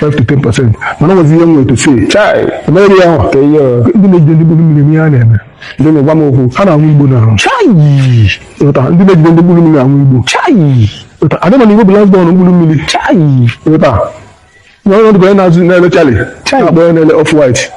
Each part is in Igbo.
5 to 10 percent mana nwezi ihe nwere to say chai emere ya ahụ ka ihe ndị na-ejide ndị mkpụrụ mmiri ihe a na-eme ndị na-egwa m okwu ha na-anwụ igbo na chai ịghọta ndị na-ejide ndị mkpụrụ mmiri anwụ igbo chai ịghọta adị mana igbo bụ last born mkpụrụ mmiri chai ịghọta na ọnọdụ bụ onye na-azụ na-ele charlie chai akpọ onye na-ele off white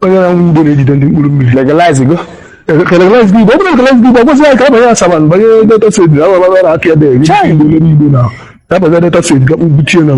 onye na-anwụ igbo na-ejide ndị mkpụrụ mmiri legalize go legalize igbo ọ bụrụ legalize igbo ọgwụzi ya ka abanye asaba banye delta state na ababa na apịa dị igbo n'igbo na abanye delta state gakpụ buchie na